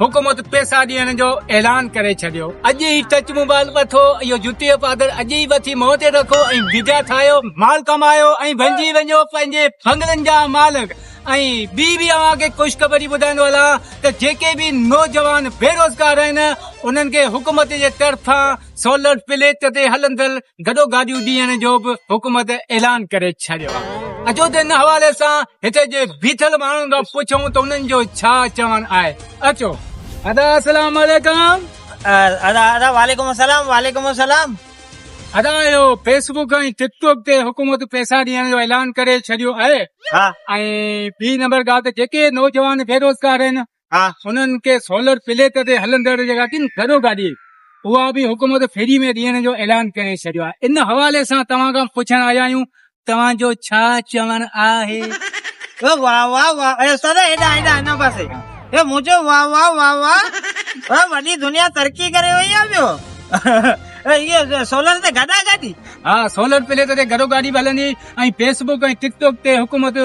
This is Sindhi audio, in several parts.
حڪومت پيسا ڏيڻ جو اعلان ڪري ڇڏيو اڄ ئي ٽچ موبائل وٺو اهو جتي جو پادر اڄ ئي وٺي منهن تي رکو ۽ بيجا ٺاهيو مال ڪمايو ۽ بنجي وڃو پنهنجي ڦنگرن جا مالڪ ۽ ٻي به اوهان کي خوشخبري ٻڌائيندو هلان ته جيڪي به نوجوان بيروزگار آهن انهن کي حڪومت جي طرفان سولر پليٽ تي هلندڙ گڏو گاڏيون ڏيڻ جو به حڪومت اعلان ڪري ڇڏيو آهي اچو ته ان حوالي سان هتي جي بيٺل ماڻهن کان پڇون ته انهن جو ڇا چوڻ آهي اچو ادا السلام عليڪم ادا ادا وعليڪم السلام وعليڪم السلام ادا اهو فيسبوڪ ۽ ٽڪ ٽاڪ تي حڪومت پئسا ڏيڻ جو اعلان ڪري ڇڏيو آهي ها ۽ ٻي نمبر ڳالهه ته جيڪي نوجوان بيروزگار آهن انهن کي سولر پليٽ تي هلندڙ جيڪا ڪن گهرو گاڏي اها به حڪومت فري ۾ ڏيڻ جو اعلان ڪري ڇڏيو آهي ان حوالي سان توهان کان پڇڻ آيا آهيون توهان جو ڇا چوڻ آهي واهه واهه واهه اي استاد هيڏا هيڏا هن پاسي اي منهنجو واهه واهه واهه واهه وڏي دنيا ترقي ڪري وئي آ ٻيو اهي سولر تي گڏا گڏي ها سولر پليٽ تي گڏو گاڏي به هلندي ۽ فيسبوڪ ۽ ٽڪ ٽاڪ تي حڪومت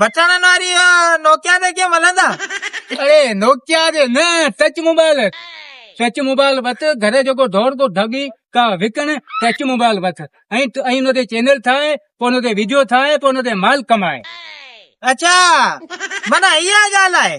بٽڻن واري نوڪيا تي ڪيئن ملندا اڙي نوڪيا جي نه ٽچ موبائل ٽچ موبائل وت گهر جو کو دور کو ڍڳي ڪا وڪڻ ٽچ موبائل وت ۽ ۽ ان تي چينل ٺاهي پوء ان تي ويڊيو ٺاهي پوء ان تي مال ڪمائي اچا منا اها ڳالهه آهي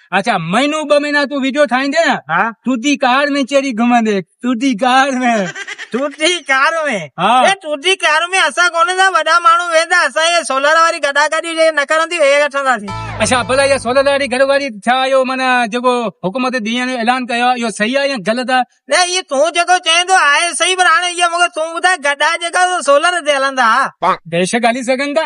اچا مهينو ٻه مهينا تون ويڊيو ٺاهيندي نه ها تودي کار ۾ چيري گهمندي تودي کار ۾ تودي کار ۾ ها اي تودي کار ۾ اسا ڪونه ٿا وڏا ماڻهو ويندا اسا هي سولر واري گڏا گڏي جي نه ڪرندي هي گٺندا سي اچا بلا يا سولر واري گڏو گڏي ڇا ايو من جيڪو حڪومت دي جو اعلان ڪيو ايو صحيح آ يا غلط آ نه اي تو جيڪو چين ٿو آهي صحيح پر هاڻي ايو مونکي تو ٻڌاء گڏا جيڪا سولر تي هلندا بيشڪ هلي سگهن ٿا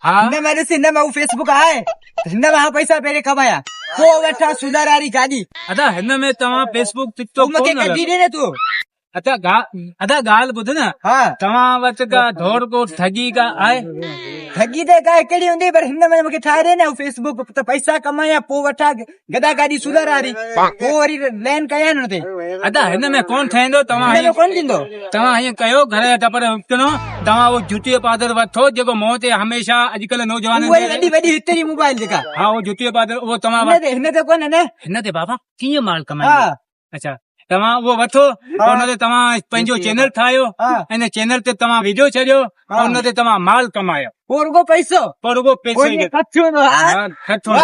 هن ۾ ڏس هن ۾ هو فيسبوڪ آهي هن ۾ آ پئسا پهرين ڪمايا پوء وٺان سونار واري گاڏي ادا هن ۾ توهان فيسبوڪ ٽڪ ٽاڪ مونکي ڪڍي ڏي نه تو ادا ادا ڳالهه ٻڌ نه ها توهان وٽ ڪا ڌور ڪو ٺڳي ڪا آهي ٺڳي ته ڪا هڪڙي هوندي پر هن ۾ مونکي ٺاهي ڏي نه فيسبوڪ ته پئسا ڪمايا پوء وٺان گدا گاڏي سولر واري هو وري لين ڪيا آهن هتي ادا هن ۾ ڪون ٺهندو توهان هن ۾ ڪون ٿيندو توهان هيئن ڪيو گهر جا ٽپر وڪڻو توهان اهو جوتي جو پادر وٺو جيڪو منهن تي هميشه اڄڪلهه نوجوان وڏي وڏي هتي جي موبائل جيڪا ها اهو جوتي جو پادر اهو توهان هن تي ڪون نه هن تي بابا ڪيئن مال ڪمائي اچا توهان اهو وٺو ان تي توهان پنهنجو چينل ٺاهيو ان چينل تي توهان ويڊيو ڇڏيو ان تي توهان مال ڪمايو پوء رڳو پئسو پوء رڳو پئسو ئي ٺٺو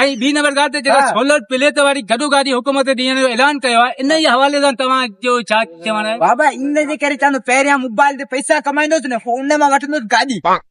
۽ ٻي نمبر ڳالهه ته جيڪا سولر پليٽ واري گڏو گاڏي حڪومت ڏيڻ جو اعلان ڪيو آهي ان جي حوالي سان توهان جو ڇا چوڻ آهي بابا ان جي ڪري چوان ٿو پهريان موبائل تي پئسا ڪمائيندوس نه پوء ان مان وٺندوس گاڏي